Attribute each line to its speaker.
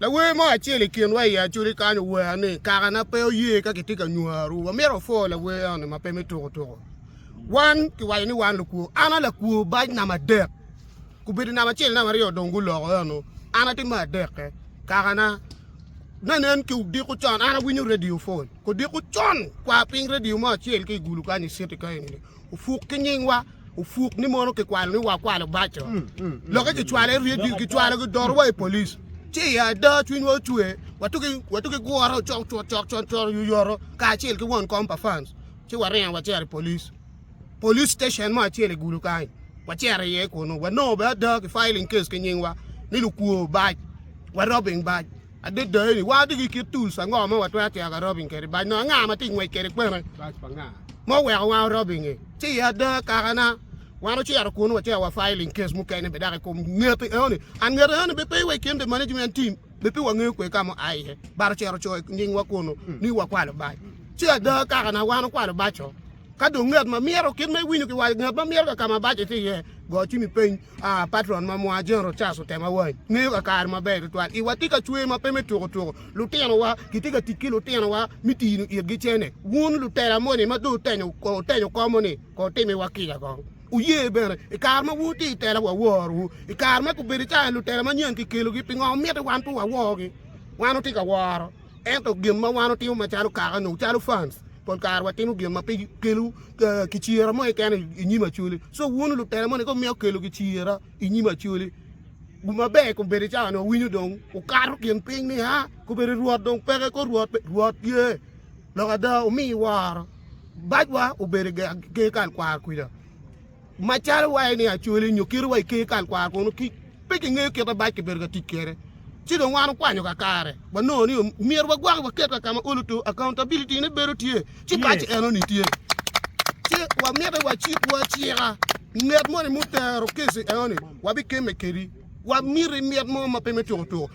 Speaker 1: Lawer mo acel i kinwa i Acholi kany owero ni, Kakana pe oye ka kitye ka nywaru. Wamito wapwo lawer eno-ni ma pe me tuko tuko. Wan kiwaco ni wan lukwo. An a lakwo bac namba adek. Gubedo namba acel, namba aryo dong guloko eno. An atye me adekke. Kakana, ne nen ki odiko con, an awinyo redio pol. Odiko con, kwa piny redio mo acel ka i gulu kany i citi kany-ni. Opuk ki nyingwa, opuk ni mono kikwalo ni wakwalo baco. Mm, mm, mm. Loke kicwalo i redio, kicwalo ki dorowa i polis. Ci i ada cwinywa ocwe, watuki watuki guro cok cok cok cok cok yuyoro kacel ki won kom pa fans. Ci waringo wacero i polis. Polis station mo acel i gulu kany. Wacero iye kunu. Wanongo be ada ki filing case ki nyingwa ni lukwo bac, wa robbing bac. Adada eni, watye ki kit tools ango ma watwero cito ka robbing kwede bac nongo anga ma tye ngwec kwede kwene? Bac pa nga ma oweko wa robbing e? Ci i ada kakana, wan ocito kunu wacito wa filing case mukene be dok i kom ngete eno ni. And ngete eno ni be pe wa i kin the management team, be pe wa ngeyo kwe ka ma oa iye, but ocito ocoyo i nying wa kunu ni wa kwalo bac. Ci ada kakana, wan okwalo bac-co. Ka dong ngat ma mito kit ma iwinyo ki waco, ngat ma mito ka ka ma bac-ce tye iye, go cimi piny. A Patron ma mwaa Jane Rochas otemo awany, ngeyo kakare maber tutwal. I watye ka cwer ma pe me tuko tuko. Lutinowa gitye ka tic ki lutinowa me tino itgi cene. Wun lutela moni ma dong wutenyo wutenyo komo ni kong wutimiwa kica kong. Wuye bene, i kare ma wutye i tela waworowu. I kare ma gubedo calo lutela manyen kikelogi, pingo miti wan pe waworogi? Wan watye ka woro. Ento gin ma wan watimo macalo kaka nyo calo fans, pol kare watimo gin ma pe kelo kicyera mo keken i nyim Acholi. So wun lutela moni ka wumito kelo kicyera i nyim Acholi, maber kong bedi cawa ni wawinyo dong wukato gin piny ni a kobedi Rwot dong peke ko Rwot pe, Rwot tye. Lok ada, wumiyo woro bacwa obedo i ker kal kwar kwija. Macalo waye ni Acoli nyo kite wa i ker kal kwara kunu ki pe kingeyo kit abac kibedo ka tic kwede. Ci dong wan wukwanyo kakare, wanongo ni myero wagwaki waket ka ka ma olo to, accountability, ne bedo tye, ci bac eno-ni tye. Ci wamite wacikwu acika, ngat moni mutero keci eno-ni, wabikemme kedi. Wamiti mit mo ma pe me tuko tuko.